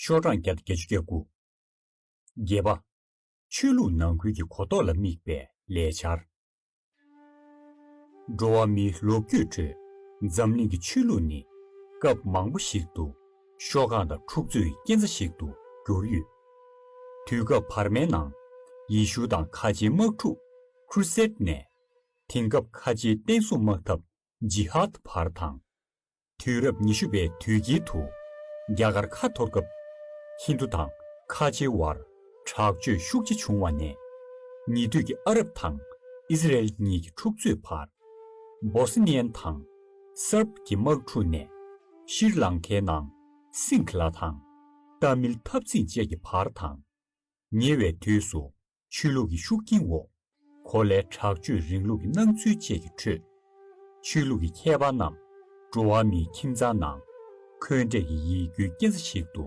ཤོག་གྲངས་བརྒྱ་དང་བརྒྱད་ཅུ་གྱ་དགུ། བརྒྱད་པ། ཆོས་ལུགས་ནང་ཁུལ་གྱི་གོ་རྟོགས་ལ་དམིགས་པའི་ལས་འཆར། འགྲོ་བ་མིའི་ལོ་རྒྱུས་ཁྲོད་འཛམ་གླིང་གི་ཆོས་ལུགས་ནི་སྐབས་མང་པོ་ཞིག་ཏུ་ཤོག་གྲངས་དང་འཁྲུག་རྩོད་ཀྱི་རྐྱེན་རྩ་ཞིག་ཏུ་གྱུར་ཡོད། དུས་སྐབས་བར་མའི་ནང་ཡེ་ཤུ་དང་ཁ་ཆེའི་དམག་འཁྲུག། Crusade། ནས་དེང་སྐབས་ཁ་ཆེའི་བསྟན་སྲུང་དམག་འཐབ། Jihad། བར་དང། དུས་རབས་ཉི་ཤུ་པའི་དུས་དཀྱིལ་དུ། རྒྱ་གར་ཁ་འཐོར་སྐབས། ཧིན་དུ་དང་ཁ་ཆེའི་དབར་དྲག་སྤྱོད་ཤུགས་ཆེ་བྱུང་བ་ནས། ཉེ་དུས་ཀྱི་ཨ་རབ་དང་ཨི་ཟི་རལ་གཉིས་ཀྱི་འཁྲུག་རྩོད་བར། Bosnian དང Serb གྱི་དམག་འཁྲུག་ནས། ཤིར་ལང་ཁའི་ནང་སིང་ཁི་ལ་དང། ཏཱ་མིལ་འཐབ་འཛིང་བཅས་ཀྱི་བར་དང། ཉེ་བའི་དུས་སུ། ཆོས་ལུགས་ཀྱི་ཤུགས་རྐྱེན་འོག་གོ་ལའི་དྲག་སྤྱོད་རིང་ལུགས་ཀྱི་སྣང་ཚུལ་བཅས་ཀྱི་ཁྲོད། ཆོས་ལུགས་ཀྱི་མཁས་པ་རྣམས་འགྲོ་བ་མིའི་ཁྱིམ་ཚང་ནང་འཁོན་འགྲས་ཀྱི་ཡིད་སྐྱོའི་རྐྱེན་རྩ་ཞིག་ཏུ་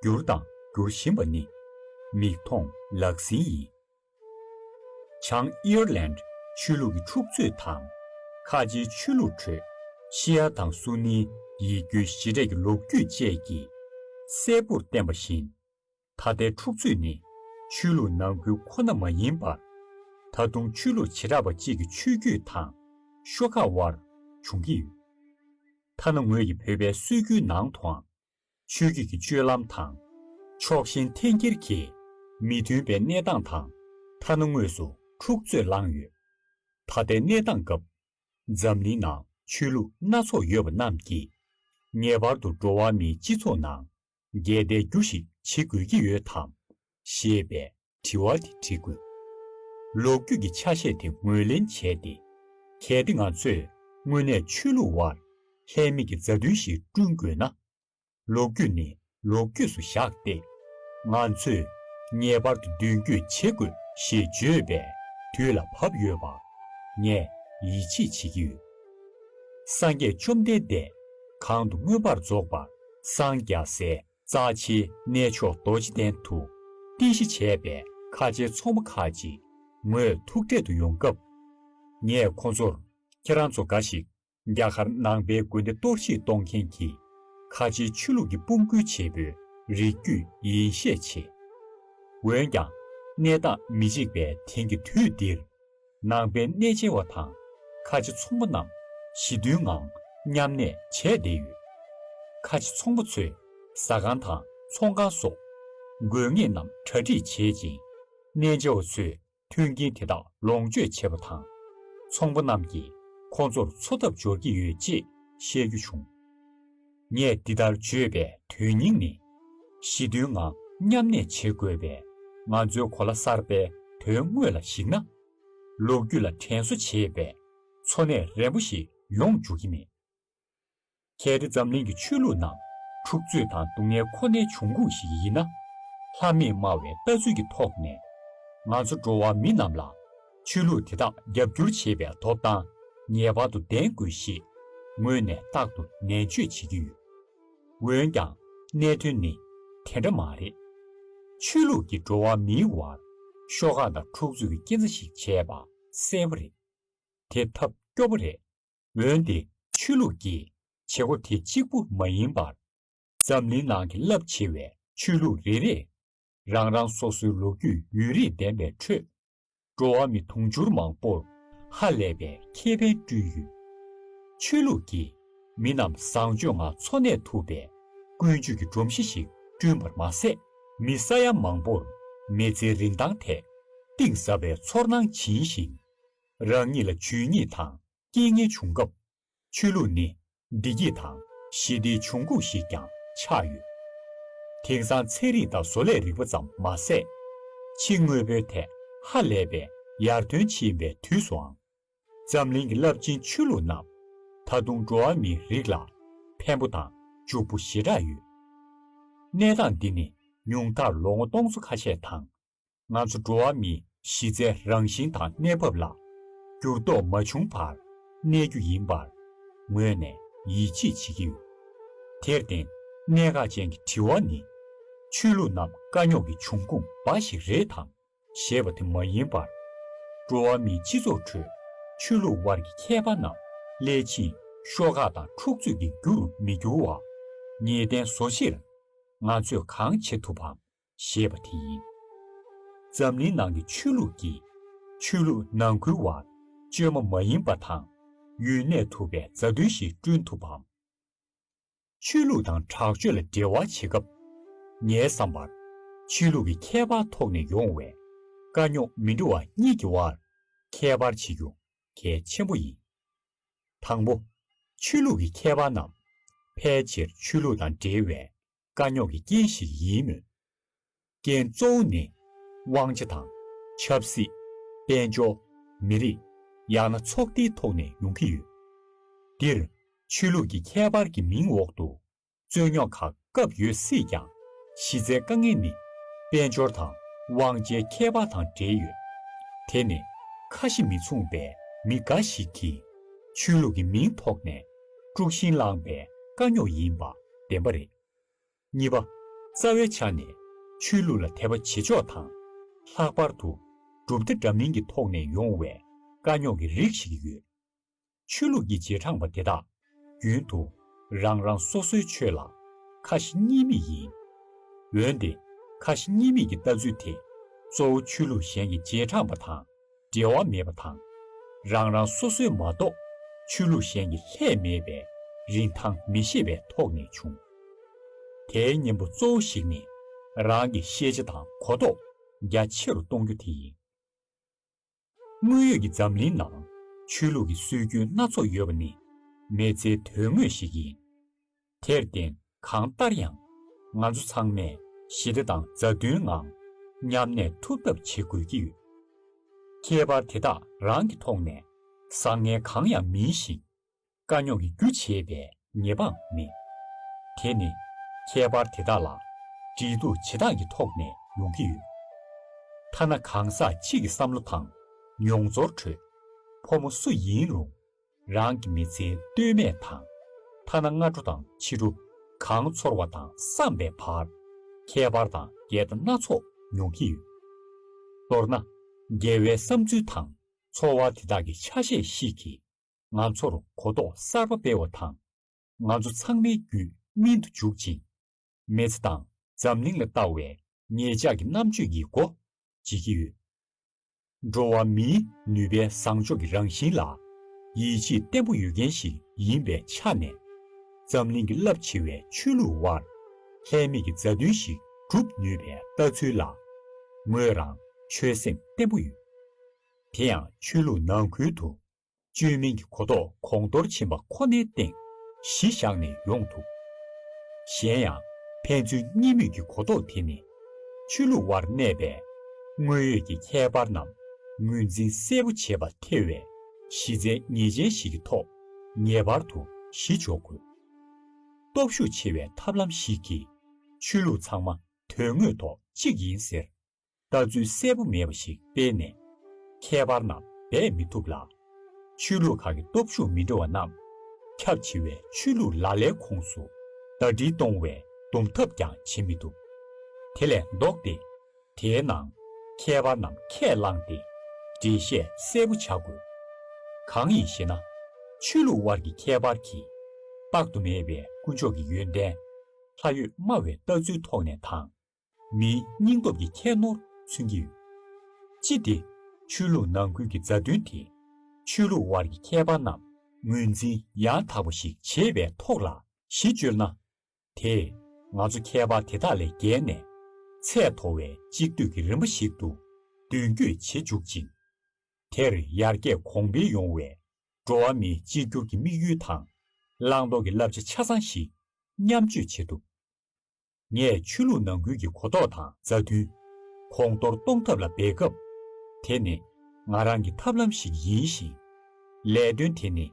གྱུར་དང་འགྱུར་བཞིན་པ་ནི་མིག་མཐོང་ལག་ཟིན་ཡིན། བྱང་ཨི་ཡར་ལན། ཆོས་ལུགས་ཀྱི་འཁྲུག་རྩོད་དང་ཁ་ཆེའི་ཆོས་ལུགས་ཁྲོད་ཤི་ཡ་དང་སུ་ནིའི་ཡིད་སྐྱོའི་གཞི་འབྲས་ཀྱི་ལོ་རྒྱུས་བཅས་ཀྱིས་གསལ་པོར་བསྟན་པ་བཞིན། ད་ལྟའི་འཁྲུག་རྩོད་ནི་ཆོས་ལུགས་ནང་ཁུལ་ཁོ་ན་མ་ཡིན་པར། ད་དུང་ཆོས་ལུགས་བྱེ་བྲག་པ་གཅིག་གི་ཆོས་བརྒྱུད་དང་ཤོག་ཁག་དབར་འབྱུང་གི་ཡོད། ཐ་ན་ངོས་ཀྱི་བོད་པའི་སྲོལ་རྒྱུན་ནང་དུའང་ཆོས་བརྒྱུད་ཀྱི་སྤྱོད་ལམ་དང། ཕྱོགས་ཞེན་འཐེན་འཁྱེར་གྱིས་མི་མཐུན་པའི་གནས་སྟངས་དང་ཐ་ན་དངོས་སུ་འཁྲུག་རྩོད་བསླངས་ཡོད། ད་ལྟའི་གནས་སྟངས་སྐབས། འཛམ་གླིང་ནང་ཆོས་ལུགས་སྣ་ཚོགས་ཡོད་པ་རྣམས་ཀྱིས། ངེས་པར་དུ་འགྲོ་བ་མིའི་སྤྱི་ཚོགས་ནང་འགལ་ཟླའི་རྒྱུ་ཞིག་བྱེད་དགོས་ཀྱི་ཡོད་དམ། ཞེས་པའི་དྲི་བ་དེ་འདྲི་དགོས། ལོ་རྒྱུས་ཀྱི་ཆ་ཤས་དེ་ངོས་ལེན་བྱས་ཏེ། གལ་ཏེ་ང་ཚོས་དངོས་གནས་ཆོས་ལུགས་དབར་ལྷད་མེད་ཀྱི་མཛའ་མཐུན་ཞིག་བསྐྲུན་དགོས་ན། ལོ་རྒྱུས་ནི་ལོ་རྒྱུས་སུ་བཞག་སྟེ། ང་ཚོས་ངེས་པར་དུ་མདུན་སྐྱོད་བྱེད་དགོས་ཞེས་བརྗོད་པའི་དུས་ལ་བབ་ཡོད་པར་ངས་ཡིད་ཆེས་བྱེད་ཀྱི་ཡོད། སངས་རྒྱས་བཅོམ་ལྡན་འདས་གང་དུ་མངོན་པར་རྫོགས་པར་སངས་རྒྱ་སྲས་རྩ་ཆེའི་གནས་མཆོག་རྡོ་རྗེ་གདན་དུ་རྟེན་གཞི་བྱས་པའི་ཁ་ཆེའི་ཚོགས་མ་ཁག་ཅིག་ངོས་ཐུག་འཕྲད་དུ་ཡོང་སྐབས། ངས་ཁོ་ཚོར་ཁྱེད་རང་ཚོ་འགའ་ཞིག་རྒྱ་གར་ནང་པའི་དགོན་སྡེ་གཏོར་བཤིག་གཏོང་མཁན་གྱི་ཁ་ཆེའི་ཆོས་ལུགས་ཀྱི་དཔུང་སྐུལ་བྱེད་པོའི་རིགས་རྒྱུད་ཡིན་ཤས་ཆེ། འོན་ཀྱང་གནས་སྟངས་མི་གཅིག་པའི་དེང་གི་དུས་འདིར། ནང་པའི་གནས་མཇལ་བ་དང་ཁ་ཆེ་ཚོང་པ་རྣམས་ཞི་མཐུན་ངང་མཉམ་གནས་བྱས་བསྡད་ཡོད། ཁ་ཆེ་ཚོང་པ་ཚོས་ཟ་ཁང་དང་ཚོང་ཁང་སོགས་དགོས་ངེས་རྣམས་གྲ་སྒྲིག་བྱེད་ཅིང། གནས་མཇལ་བ་ཚོས་མཐུན་རྐྱེན་དེ་དག་ལོངས་སྤྱོད་བྱེད་པ་དང། ཚོང་པ་རྣམས་ཀྱིས་ཁོང་ཚོར་འཚོ་ཐབས་སྦྱོར་གྱི་ཡོད་ཅེས་བཤད་རྒྱུ་བྱུང། ངས་འདི་ལྟར་བརྗོད་པའི་དོན་སྙིང་ནི། ཞི་མཐུན་ངང་མཉམ་གནས་བྱེད་དགོས་པས་ང་ཚོའི་གོ་ལ་གསར་པའི་དོན་དངོས་ལ་གཞིགས་ན། ལོ་རྒྱུས་ལ་དྲན་གསོ་བྱེད་པའི་འཚོ་གནས་རན་པོ་ཞིག་ཡོང་འཇུག་གི་མེད། གལ་ཏེ་འཛམ་གླིང་གི་ཆོས་ལུགས་ནང་འཁྲུག་རྩོད་དང་སྡུག་བསྔལ་ཁོ་ནའི་འབྱུང་ཁུངས་ཤིག་ཡིན་ན། ལྷ་མེད་སྨྲ་བའི་ལྟ་ཚུལ་གྱི་ཐོག་ནས། ང་ཚོ་འགྲོ་བ་མི་རྣམས་ལ་ཆོས་ལུགས་དེ་དག་རྒྱབ་སྐྱོར་བྱེད་པའི་ཐོབ་ཐང་ངེས་པར་དུ་ལྡན་དགོས་ཞེས་ངོས་ནས་རྟག་ཏུ་ནན་བརྗོད་བྱེད་ཀྱི་ཡོད། འོན་ཀྱང་གནད་དོན་ནི་དེ་འདྲ་མ་རེད། ཆོས་ལུགས་ཀྱིས་འགྲོ་བ་མིའི་བར་ཤོག་ཁག་དང་འཁྲུག་རྩོད་ཀྱི་རྐྱེན་རྩ་ཞིག་བྱས་པ་གསལ་བོ་རེད། དེ་ཐབས་སྐྱོ་བོ་རེད། འོན་ཏེ་ཆོས་ལུགས་ཀྱིས་བྱེད་སྒོ་དེ་གཅིག་པུ་མ་ཡིན་པར། འཛམ་གླིང་ནང་གི་རླབས་ཆེ་བའི་ཆོས་ལུགས་རེ་རེས་རང་རང་སོ་སོའི་ལོ་རྒྱུས་ཡུན་རིང་ལྡན་པའི་ཁྲོད་འགྲོ་བ་མི་དུང་ཕྱུར་མང་པོར་ཧ་ལས་པའི་ཁེ་ཕན་བསྐྲུན་ཡོད། ཆོས་ལུགས་ཀྱི་མི་རྣམས་བཟང་སྤྱོད་ངང་འཚོ་གནས་ཐུབ་པའི་ཀུན་སྤྱོད་ཀྱི་སྒྲོམ་གཞི་ཞིག་བསྐྲུན་པར་མ་ཟད་མི་ས་ཡ་མང་པོར་མི་ཚེའི་རིན་ཐང་ཐད་གཏིང་ཟབ་པའི་ཚོར་སྣང་བྱིན་ཞིང། རང་ཉིད་ལ་ཇུས་ཉེས་དང་རྐྱེན་ངན་བྱུང་སྐབས་ཆོས་ལུགས་ནི་བདེ་སྐྱིད་དང་ཞི་བདེའི་འབྱུང་ཁུངས་ཤིག་ཀྱང་ཆགས་ཡོད། དེང་སང་ཚན་རིག་དང་བཟོ་ལས་རིག་པ་ཙམ་མ་ཟད། ཕྱི་དངོས་པོའི་ཐད་ཧ་ལས་པའི་ཡར་ཐོན་ཕྱིན་པའི་དུས་སུའང། འཛམ་གླིང་གི་རླབས་ཆེན་ཆོས་ལུགས་རྣམས་ད་དུང་འགྲོ་བ་མིའི་རིགས་ལ་ཕན་པོ་དང་འཇུག་པོ་ཞེ་དྲགས་ཡོད། གནས་སྟངས་འདི་ནི་ཉུང་མཐར་ལོ་ངོ་སྟོང་ཚོ་ཁ་ཤས་དང་ང་ཚོ་འགྲོ་བ་མིའི་གཞི་རྩའི་རང་བཞིན་དང་གནས་བབ་ལ་འགྱུར་ལྡོག་མ་བྱུང་བར་གནས་རྒྱུ་ཡིན་པར་ངོས་ནས་ཡིད་ཆེས་བྱེད་ཀྱི་ཡོད། དེར་བརྟེན་གནད་འགག་ཅན་གྱི་དྲི་བ་ནི། ཆོས་ལུགས་རྣམས་དཀའ་རྙོག་གི་འབྱུང་ཁུངས་འབའ་ཞིག་རེད་དམ་ཞེས་པ་དེ་མ་ཡིན་པར། འགྲོ་བ་མིའི་སྤྱི་ཚོགས་ཁྲོད་ཆོས་ལུགས་དབར་གྱི་ཁྱད་པར་རྣམས་སླད་ཕྱིན་ཤོག་ཁག་དང་འཁྲུག་རྩོད་ཀྱི་རྒྱུ་རུ་མི་འགྱུར་བར་ངེས་གཏན་བཟོ་ཕྱིར། ང་ཚོས་གང་བྱེད་ཐུབ་བམ་ཞེས་པ་དེ་ཡིན། འཛམ་གླིང་ནང་གི་ཆོས་ལུགས་ཀྱིས་ཆོས་ལུགས་ནང་ཁུལ་བར་གཅོད་མ་མ་ཡིན་པ་དང་ཡུན་གནས་ཐུབ་པའི་མཛའ་མཐུན་ཞིག་བསྐྲུན་ཐུབ་བམ། ཆོས་ལུགས་དང་དྲག་སྤྱོད་ལ་འབྲེལ་བ་བྱེད་སྐབས། ངའི་བསམ་པར་ཆོས་ལུགས་ཀྱི་ཁྱད་པར་ཐོག་ནས་ཡོང་བའི་དཀའ་རྙོག་མི་འགྲོ་བ་གཉིས་ཀྱི་དབར་ཁྱད་པར་བྱེད་རྒྱུ་གལ་ཆེན་པོ་ཡིན། དང་པོ། ཆོས་ལུགས་ཀྱི་ཁྱད་པར་རྣམས་ཕལ་ཆེར་ཆོས་ལུགས་དང་འབྲེལ་བའི་དཀའ་རྙོག་གི་རྐྱེན་ཞིག་ཡིན་མོད། རྐྱེན་གཙོ་བོ་ནི། དབང་ཆ་དང། ཆབ་སྲིད། དཔལ་འབྱོར། མི་རིགས། ཡང་ན་ཚོགས་སྡེའི་ཐོག་ནས་ཡོང་གི་ཡོད། འདིར། ཆོས་ལུགས་ཀྱི་ཁྱད་པར་གྱི་མིང་འོག་ཏུ། རྩོད་རྙོག་ཁག་སྐབས་ཡོད་སྲིད་ཀྱང། གཞི་རྩའི་དཀའ་ངལ་ནི། དཔལ་འབྱོར་དང་དབང་ཆའི་ཁྱད་པར་དང་འབྲེལ་ཡོད། དེ་ནི། ཁ་ཞེ་མི་མཚུངས་པའི་མི་འགའ་ཞིག་གིས། ཆོས་ལུགས་ཀྱི་མིང་ཐོག་ནས། དཀྲུགས་ཤིང་བསླངས་པའི་དཀའ་རྙོག་ཡིན་པ། བདེན་པ་རེད། གཉིས་པ། རྩ་བའི་ཆ་ནས་ཆོས་ལུགས་ལ་དད་པ་བྱེད་ཕྱོགས་དང། ལྷག་པར་དུ་གྲུབ་མཐའ་འདྲ་མིན་གྱི་ཐོག་ནས་ཡོང་བའི་དཀའ་རྙོག་གི་རིགས་ཤིག་ཡོད། ཆོས་ལུགས་ཀྱི་རྗེས་འབྲངས་པ་དེ་དག་རྒྱུན་དུ་རང་རང་སོ་སོའི་ཆོས་ལ་ཁ་ཞེ་གཉིས་མེད་ཡིན། འོན་ཏེ་ཁ་ཞེ་གཉིས་མེད་ཀྱི་ལྟ་ཚུལ་དེ་གཙོ་བོ་ཆོས་ལུགས་གཞན་གྱི་རྗེས་འབྲངས་པ་དང་འབྲེལ་བ་མེད་པ་དང། རང་རང་སོ་སོའི་མ་གཏོགས་ཆོས་ལུགས་གཞན་གྱི་ལྷད་མེད་པའི་རིན་ཐང་མི་ཤེས་པའི་ཐོག་ནས་བྱུང། དེའི་གཉེན་པོ་གཙོ་བོ་ཞིག་ནི་རང་གི་ཤེས་བྱ་དང་གོ་རྟོགས་རྒྱ་ཆེ་རུ་གཏོང་རྒྱུ་དེ་ཡིན། དངོས་ཡོད་ཀྱི་འཛམ་གླིང་ནང་ཆོས་ལུགས་ཀྱི་སྲོལ་རྒྱུན་སྣ་ཚོགས་ཡོད་པ་ནི་མེད་ཚེའི་དོན་དངོས་ཤིག་ཡིན། དེར་བརྟེན་གང་ལྟར་ཡང། ང་ཚོ་ཚང་མས་ཞི་བདེ་དང་མཛའ་མཐུན་ངང་མཉམ་གནས་ཐུབ་ཐབས་བྱེད་དགོས་ཀྱི་ཡོད། ཁྱད་པར་དེ་དག་རང་གི་ཐོག་ནས་བཟང་ངན་གང་ཡང་མིན་ཞིང། དཀའ་རྙོག་གི་རྒྱུ་བྱེད་པའི་ཉེས་པའང་མེད། དེ་ནི་ཁྱད་པར་དེ་དག་ལ་འབྲེལ་གཏུག་བྱེད་སྟངས་ཀྱི་ཐོག་ནས་ཡོང་གི་ཡོད། ཐ་ན་གང་ཟག་གཅིག་གི་བསམ་བློ་དང་མྱོང་ཚོར་ཁྲོད། ཕོ་མོ་སུ་ཡིན་རུང་རང་གི་མི་ཚེ་སྟོད་སྨད་དང། ཐ་ན་སྔ་དྲོ་དང་ཕྱི་དྲོ། གང་ཚོར་བ་དང་བསམ་པའི་བར། ཁྱད་པར་དང་འགལ་ཟླ་སྣ་ཚོགས་མྱོང་གི་ཡོད། མདོར་ན། རྒྱལ་བའི་བསམ་ཚུལ་དང་ཚོར་བ་དེ་དག་གི་ཆ་ཤས་ཤིག་གིས་ང་ཚོར་གོ་རྟོགས་གསར་པ་སྤེལ་བ་དང། ང་ཚོ་ཚང་མའི་རྒྱུད་སྨིན་དུ་འཇུག་ཅིང། མེད་ཚེ་དང་འཛམ་གླིང་ལ་བལྟ་བའི་ངེད་ཅག་གི་རྣམ་དཔྱོད་ཀྱིས་གོ་བྱེད་ཀྱི་ཡོད། འགྲོ་བ་མིའི་ནུས་པའི་བཟང་ཕྱོགས་ཀྱི་རང་བཞིན་ལ་ཡིད་ཆེས་བརྟན་པོ་ཡོད་མཁན་ཞིག་ཡིན་པའི་ཆ་ནས། འཛམ་གླིང་གི་རླབས་ཆེ་བའི་ཆོས་ལུགས་དབར་ལྷད་མེད་ཀྱི་མཛའ་མཐུན་ཞིག་གྲུབ་ནུས་པའི་ལྟ་ཚུལ་ལ་ངོས་རང་ཆོད་སེམས་བརྟན་པོ་ཡོད། དེ་ཡང་ཆོས་ལུགས་ནང་ཁུལ་དུ་བཅོས་མིན་གྱི་གོ་རྟོགས་གོང་མཐོར་ཕྱིན་པ་ཁོ་ནའི་སྟེང་གཞི་བཞག་ནས་ཡོང་ཐུབ། གཞན་ཡང་ཕན་ཚུན་གཉིས་མོས་ཀྱི་གོ་རྟོགས་དེ་ནི། ཆོས་ལུགས་དབར་གནས་པའི་དངོས་ཡོད་ཀྱི་ཁྱད་པར་རྣམས་ངོས་འཛིན་གསལ་པོ་བྱེད་པར་ཐེ་བའི་གཞི་རྩའི་ངེས་ཅན་ཞིག་གི་ཐོག་ངེས་པར་དུ་གཞི་འཇོག་དགོས། སྟོབས་ཤུགས་ཆེ་བའི་ཐབས་ལམ་ཞིག་གིས་ཆོས་ལུགས་ཚང་མ་དོན་དངོས་ཐོག་གཅིག་ཡིན་ཟེར་ལྟ་ཚུལ་གསལ་པོ་མེད་པ་ཞིག་སྤེལ་ནས། ཁྱད་པར་ན་འབད་མི་ཐུབ་ལ། ཆོས་ལུགས་ཁག་གི་སྟོབས་ཤུགས་མི་འདྲ་བ་རྣམས། ཁྱབ་ཆེ་བའི་ཆོས་ལུགས་ལ་ལའི་ཁོངས་སུ་ཟླ་སྒྲིལ་གཏོང་བའི་འདུམ་ཐབས་ཀྱང་བྱེད་མི་ཐུབ། དེ་ལས་ལྡོག་སྟེ། དེའི་ནང་ཁྱད་པར་རྣམས་ཁས་བླངས་ཏེ། འགྲེལ་བཤད་གསལ་པོ་བྱ་དགོས། གང་ཡིན་ཞེ་ན། ཆོས་ལུགས་དབར་གྱི་ཁྱད་པར་གྱིས། དཔག་ཏུ་མེད་པའི་དཀོན་མཆོག་གི་ཡོན་ཏན། ལྷ་ཡོད་སྨྲ་བའི་ལྟ་ཚུལ་ཐོག་ནས་དང། མིའི་སྙིང་སྟོབས་ཀྱི་ཁྱད་ནོར་མཚོན་གྱི་ཡོད། ཅི་སྟེ། ཆོས་ལུགས་ནང་ཁུལ་གྱི་མཛའ་མཐུན་དེས་ཆོས་ལུགས་དབར་གྱི་ཁྱད་པར་རྣམས་ངོས་འཛིན་ཡང་དག་པ་ཞིག་བྱེད་པའི་ཐོག་ལ་གཞི་བཅོལ་ན། དེས་ང་ཚོ་ཁྱད་པར་དེ་དག་ལས་བརྒལ་ནས་ཚད་མཐོ་བའི་གཅིག་སྡུད་ཀྱི་རིམ་པ་ཞིག་ཏུ་མདུན་སྐྱོད་བྱེད་འཇུག་ཅིང། དེར་ཡར་རྒྱས་གོང་འཕེལ་ཡོང་བའི་འགྲོ་བ་མིའི་གཅིག་གྱུར་གྱི་དམིགས་ཡུལ་དང་བླང་དོར་གྱི་བསླབ་བྱ་ཆ་ཚང་ཞིག་མཉམ་སྤྱོད་བྱེད་ཐུབ། ངས་ཆོས་ལུགས་ནང་ཁུལ་གྱི་གོ་རྟོགས་དང་མཛའ་མཐུན། གོང་མཐོར་གཏོང་ཐབས་ལ་འབད་སྐབས། དེ་ནི་ང་རང་གི་ཐབས་ལམ་ཞིག་ཡིན་ཞིང། ལས་དོན་དེ་ནི་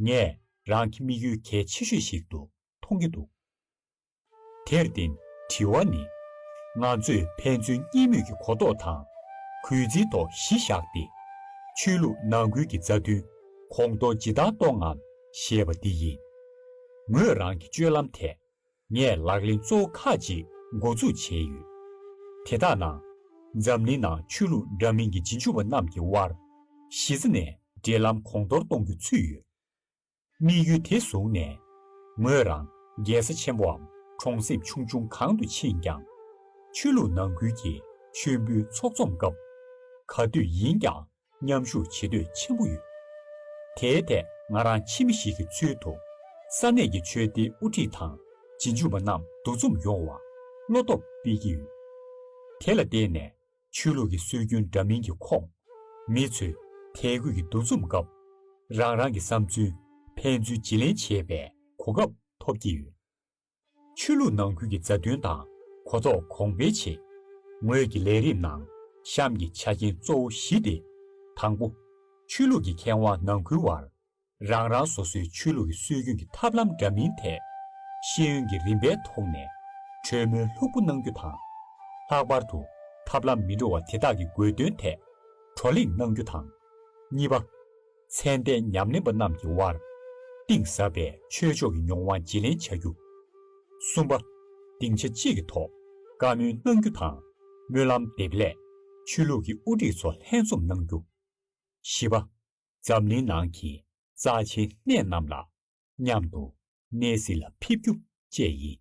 ངས་རང་གི་དམིགས་ཡུལ་གལ་ཆེ་ཤོས་ཤིག་ཏུ་མཐོང་གི་འདུག་དེར་བརྟེན་དྲི་བ་ནི། ང་ཚོས་ཕན་ཚུན་གཉིས་མོས་ཀྱི་གོ་རྟོགས་དང་གུས་བརྩིའི་ཐོག་གཞི་བཞག་སྟེ། ཆོས་ལུགས་ནང་ཁུལ་གྱི་མཛའ་མཐུན་གོང་མཐོར་ཇི་ལྟར་གཏོང་ངམ་ཞེས་པ་འདི་ཡིན། ངོས་རང་གི་སྤྱོད་ལམ་ཐད། ངས་ལག་ལེན་གཙོ་བོ་ཁག་ཅིག་འགོ་འཛུགས་བྱས་ཡོད། དེ་དག་ནང། འཛམ་གླིང་ནང་ཆོས་ལུགས་འདྲ་མིན་གྱི་རྗེས་འཇུག་པ་རྣམས་ཀྱི་དབར་གཞི་རྩ་ནས་འབྲེལ་ལམ་གོང་མཐོར་གཏོང་རྒྱུ་ཚུད་ཡོད། དམིགས་ཡུལ་དེ་བཟུང་ནས། ངོས་རང་རྒྱལ་ས་ཆེན་པོའམ་གྲོང་གསེབ་ཆུང་ཆུང་གང་དུ་ཕྱིན་ཀྱང། ཆོས་ལུགས་ནང་ཁུལ་གྱི་མཆོད་འབུལ་ཚོགས་འཛོམས་སྐབས། ག་དུས་ཡིན་ཀྱང་མཉམ་ཞུགས་བྱེད་འདོད་ཆེན་པོ་ཡོད། དེའི་ཐད་ང་རང་ཕྱི་མི་ཞིག་གི་ཚུལ་དུ། ས་གནས་ཀྱི་ཆོས་སྡེའི་དབུ་ཁྲིད་དང་སྦྱིན་བྱུས་པ་རྣམས་འདུ་འཛོམས་ཡོང་བར་བློ་སྟོབས་སྤེལ་གྱི་ཡོད། དེ་ལ་བརྟེན་ནས་ཆོས་ལུགས་ཀྱི་སྲོལ་རྒྱུན་འདྲ་མིན་གྱི་ཁོངས་མི་ཚོས་དད་གུས་ཀྱི་འདུ་འཛོམས་སྐབས། རང་རང་གི་བསམ་ཚུལ་ཕན་ཚུན་བརྗེ་ལེན་བྱེད་པའི་གོ་སྐབས་ཐོབ་ཀྱི་ཡོད། ཆོས་ལུགས་ནང་ཁུལ་གྱི་མཛའ་མཐུན་དང་གོ་རྟོགས་གོང་སྤེལ་བྱེད། ངོས་ཀྱི་ལས་རིམ་ནང་གཤམ་གྱི་ཆ་རྐྱེན་གཙོ་བོ་བཞི་སྟེ། དང་པོ། ཆོས་ལུགས་ཀྱི་མཁས་དབང་ནང་ཁུལ་དབར། རང་རང་སོ་སོའི་ཆོས་ལུགས་ཀྱི་སྲོལ་རྒྱུན་གྱི་ཐབས་ལམ་འདྲ་མིན་ཐད། ཤེས་ཡོན་གྱི་རིམ་པའི་ཐོག་ནས་གྲོས་མོལ་ལྷུག་པོ་གནང་རྒྱུ་དང། ལྷག་པར་དུ་ཐབས་ལམ་མི་འདྲ་བ་དེ་དག་གི་དགོས་དོན་ཐད་བགྲོ་གླེང་གནང་རྒྱུ་དང། གཉིས་པ། མཚན་ལྡན་ཉམས་ལེན་པ་རྣམས་ཀྱི་དབར། གཏིང་ཟབ་པའི་ཆོས་ཕྱོགས་ཀྱི་མྱོང་བ་བརྗེ་ལེན་བྱ་རྒྱུ། གསུམ་པ། སྡིངས་ཆ་གཅིག་གི་ཐོག་བཀའ་མོལ་གནང་རྒྱུ་དང། སྨོན་ལམ་འདེབས་སླད་ཆོས་ལུགས་ཀྱི་དབུ་ཁྲིད་ཚོ་ལྷན་འཛོམས་གནང་རྒྱུ། བཞི་པ། འཛམ་གླིང་ནང་གི་རྩ་ཆེའི་གནས་རྣམས་ལ་མཉམ་དུ་གནས་གཟིགས་ལ་ཕེབས་རྒྱུ་བཅས་ཡིན།